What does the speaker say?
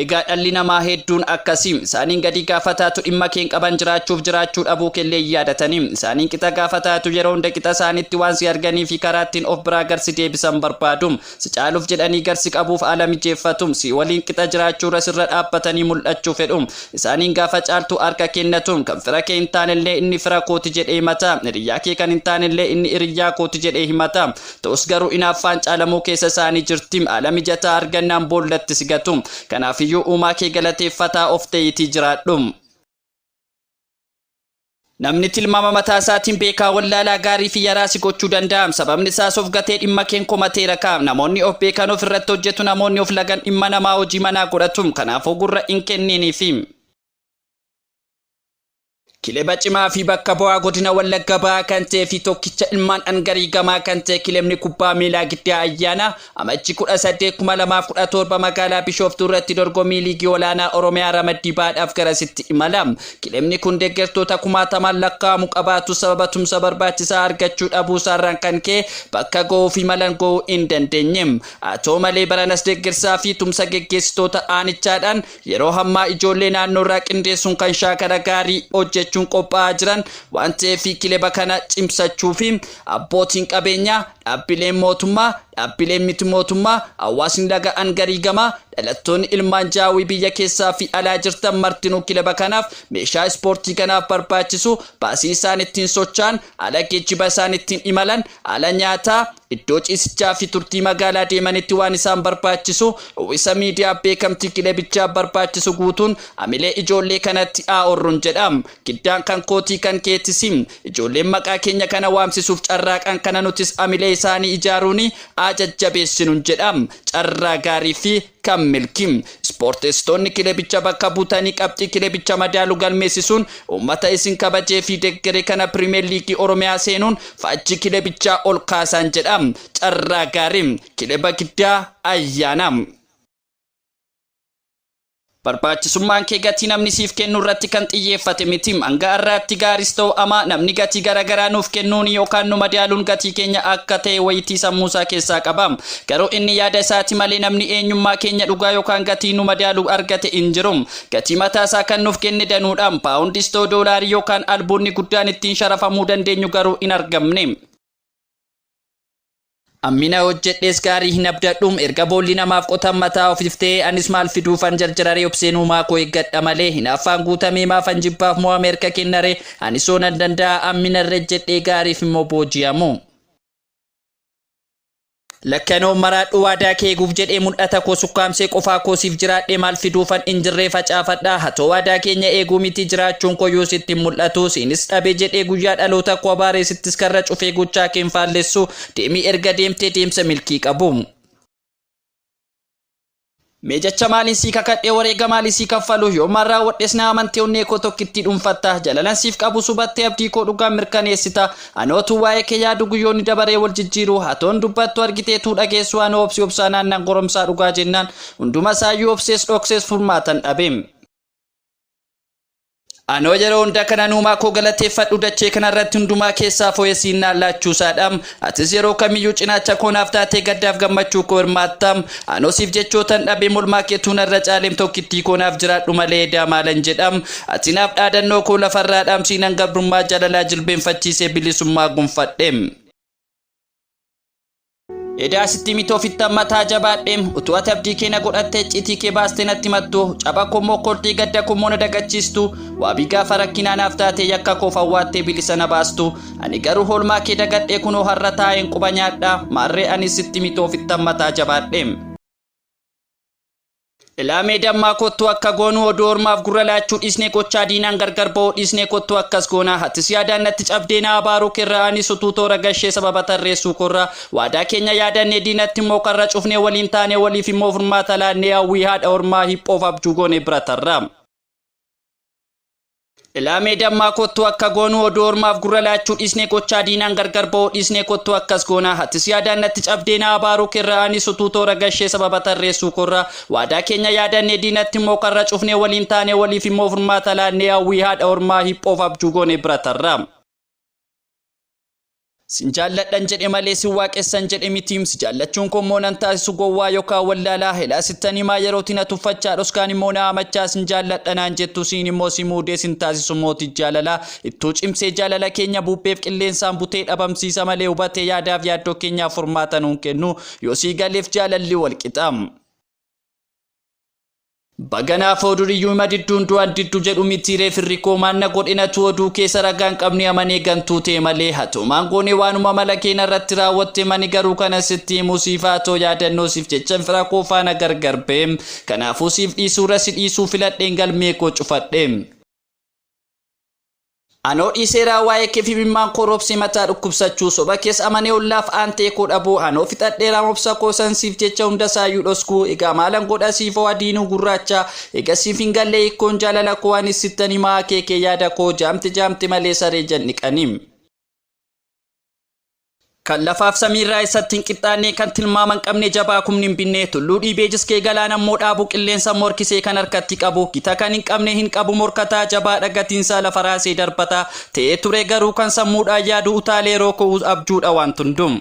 Egaa dhalli namaa heedduun akkasi. Isaaniin gadii gaafataatu dhimma keen qaban jiraachuuf jiraachuu dhabuu keellee hin yaadatani. Isaaniin qixa gaafataatu yeroo hunda qixa isaanitti waan si arganii fi karaa ittiin of biraa gar si deebisan barbaadu. Si caaluuf jedhanii gar si qabuuf haala mijeeffatu. Sii waliin qixa jiraachuu irra sirra dhaabbatanii mul'achuu fedhu. Isaaniin gaafa caaltuu harka kennatu. Kan fira kee hin taanellee inni fira kooti jedhee himata. Hiriyyaa kee kan hin taanellee inni hiriyyaa kooti jedhee himata. Ta'us garuu inaaffaan caalamuu keessa isaanii jirti. Haala mijataa argannaan boollatti si gatu. Kanaafiyyuu uumaa kee galateeffataa of ta'iitii jiraadhu. Namni tilmaama mataa isaatiin beekaa wallaalaa gaarii fi yaraa si gochuu danda'a. Sababni isaas of gatee dhimma keen komateera ka. Namoonni of beekan of irratti hojjetu namoonni of lagan dhimma namaa hojii manaa godhatu. Kanaafuu gurra hin kenniiniifi. Kileba cimaa fi bakka bu'aa godina Wallagga Bahaa kan ta'ee fi tokkicha ilmaan dhangarii gamaa kan ta'e kilebni kubbaa miilaa Giddaa Ayyaana Amajji 18/2017 magaalaa Bishooftuu irratti dorgommii liigii olaanaa Oromiyaa ramaddii bahaadhaaf garasitti imala. Kilebni kun deeggartoota kumaatamaan lakkaa'amu qabaatus sababa tumsa barbaachisaa argachuu dhabuusaarraan kan ka'e bakka ga'uuf imalan ga'uu hin dandeenye. Haa ta'u malee baranas deeggarsaa fi tumsa geggeessitoota aanichaadhaan Yeroo hammaa ijoollee naannoo irraa qindeessuun kan shaakala gaarii hojjechuun qophaa'aa jiran waan ta'eef kileba kana cimsachuu fi abbootiin qabeenyaa, dhaabbileen mootummaa, dhaabbileen miti mootummaa, hawaasni laga Angarii gamaa, dhalattoonni ilmaan Jaawwii biyya keessaa fi alaa jirtan martinuu kileba kanaaf meeshaa ispoortii kanaaf barbaachisu baasii isaan ittiin socha'an, haala geejjiba isaan ittiin imalan, haala nyaataa, Iddoo ciisichaa fi turtii magaalaa deemanitti waan isaan barbaachisu, uwwisa miidiyaa, beekamtii kilebichaaf barbaachisu guutuun hamilee ijoollee kanatti haa horrun jedha. Giddaan kan kootii kan keetis. Ijoolleen maqaa keenya kana waamsisuuf carraaqan kana nutis hamilee isaanii ijaaruun haa jajjabeessinun jedha. Carraa gaarii fi Kan milki. Ispoorteesitoonni kilebicha bakka butanii qabxii kilebicha madaalu galmeessisuun uummata isin kabajee fi deggere kana Piriimeer Liigii Oromiyaa seenuun faajjii kilebichaa ol kaasaan jedha. Carraa gaarii. Kileba Giddaa Ayyaanaa. Barbaachisummaan kee gatii namni siif kennu irratti kan xiyyeeffate miti. Hanga har'aatti gaaris ta'u amaa namni gatii gara garaa nuuf kennuun yookaan nu madaaluun gatii keenya akka ta'e wayitii sammuu isaa keessaa qaba. Garuu inni yaada isaati malee namni eenyummaa keenya dhugaa yookaan gatii nu madaalu argate hin jiru. Gatii mataa isaa kan nuuf kenne danuudha. Paawundis ta'u doolaarii yookaan albuudni guddaan ittiin sharafamuu dandeenyu garuu hin argamne. Hammina hojjedhees gaarii hin abdadhu. Erga boolli namaaf qotan mataa ofiif ta'ee anis maal fiduufan jarjararee obseen uumaa koo eeggadha malee. Hinaaffaan guutamee maafan jibbaaf mo'ame harka kennaree? Anisoo nan danda'a hammina irra ejjedhee gaariif immoo booji'amuu. Lakki ani of maraadhu waadaa kee eeguuf jedhee mul'ata koo sukkaamsee qofaa koo siif jiraadhee maal fiduufan in jirree facaafadha hatoo waadaa keenya eeguu miti jiraachuun koo yoo sitti hin mul'atu siinis dhabe jedhee guyyaa dhaloota koo abaaree sittis karra cufee gochaa kee hin faallessu deemi erga deemtee deemsa milkii qabu. Mee jecha maaliin sii kakadhee wareega maalii sii kaffalu yoomaan raawwadhes na amantee onnee koo tokkittii dhuunfatta jalalan siif qabus hubattee abdii koo dhugaan mirkaneessita anoo tuu waa'ee kee yaadu guyyoonni dabaree wal jijjiiru hatoon dubbattu argitee tuu dhageessu anoo obsi obsaa naannan goromsaa dhugaa jennaan hunduma saayyuu obsees dhoksees furmaatan dhabe. Anoo yeroo hunda kanan uumaa koo galateeffadhu dachee kanarratti hundumaa keessaa fooyessiin naan laachuusaadha. Atis yeroo kamiyyuu cinaacha koo naaf taatee gaddaaf gammachuu koo hirmaatta. Anoo siif jechootan dhabe molmaa keetuu narra caaleem tokkittii koo naaf jiraadhu malee edaa maalan jedha. Ati naaf dhaadannoo koo lafarraa dhaamsiinan gabrummaa jaalalaa jilbeenfachiisee bilisummaa gonfadhe. Edaa sitti miti ofitti ammataa jabaadheem utuu ati abdii kee na godhattee iccitii kee baastee natti mattu caba kommoo kordhii gadda kommoo na dagachiistu waabii gaafa rakkinaa naaf taatee yakka koof awwaattee bilisa na baastu ani garuu hoolmaa kee dagadhee kunoo har'a taa'een quba nyaadha maarree ani sitti miti ofitti ammataa jabaadheem. Ilaamee dammaa kottuu akka goonuu oduu ormaaf gurra laachuu dhiisnee gochaa diinaan gargar ba'uu dhiisnee kottuu akkas goonaa hatis yaadaan natti cabdee na abaaruu kerraa anis utuu toora gashee sababa tarreessuu korraa waadaa keenya yaadannee diinatti immoo karra cufnee waliin taanee waliif immoo furmaata laannee hawwii haadha ormaa hiphoof abjuu goone bira tarraa. Ilaamee dammaa kottuu akka goonuu oduu ormaaf gurra laachuu dhiisnee gochaa diinaan gargar ba'uu dhiisnee kottuu akkas goonaa hatis yaadaan natti cabdee na abaaruu kerraa anis utuu toora gashee sababa tarreessuu korraa waadaa keenya yaadannee diinatti immoo karra cufnee waliin taanee waliif immoo furmaata laannee hawwii haadha ormaa hiphoof abjuu goone bira tarraa. Sin jaalladhan jedhe malee sin waaqessan jedhe miti si jaallachuun koo immoo nan taasisu gowwaa yookaan wallaalaa helaa sittan himaa yerooti na tuffachaa dhoskaan immoo na hamachaa sin jaalladha naan jettu siin immoo si muudee sin taasisu mooti jaalalaa ittuu cimsee jaalala keenya buupheef qilleensaan butee dhabamsiisa malee hubatee yaadaaf yaaddoo keenyaaf furmaata nuun kennu yoo sii galeef jaalalli walqixa. Baganaa foo duriyyuu ima didduun du'an diddu jedhu mitiiree firri koo maan na godhe natu oduu keessa ragaan qabne amanee gantuu tee malee hatoomaan goone waanuma mala kee narratti raawwatte mani garuu kanan sitti himuu siif haa too yaadannoo siif jechan fira koo faana gargar ba'e kanaafuu siif dhiisuurra si dhiisuu filadheen galmee koo cufadhe. Anoo dhiiseeraa waa'ee keef imimmaan koo roobsee mataa dhukkubsachuu soba kees amanee ollaaf aantee koo dhabuu anoo fixadheeraa obsa koo san siif jecha hundasaayyuu dhoskuu egaa maalan godha siif hoo adiinuu gurraacha egaa siif hin gallee hikkoon jaalala koo anis sittan himaa akeekee yaada koo jaamte jaamte malee saree jan dhiqanii. Kan lafaaf samiirraa eessatti hin qixxaannee kan tilmaaman qabne jabaa kumni hin binnee tulluu dhiibee jiskee galaan ammoo dhaabu qilleensa morkisee kan harkatti qabu gita kan hin qabne hin qabu morkataa jabaa dhagatiinsaa lafa raasee darbataa ta'ee ture garuu kan sammuudhaan yaadu utaalee rooko'uus abjuudha waan tundum.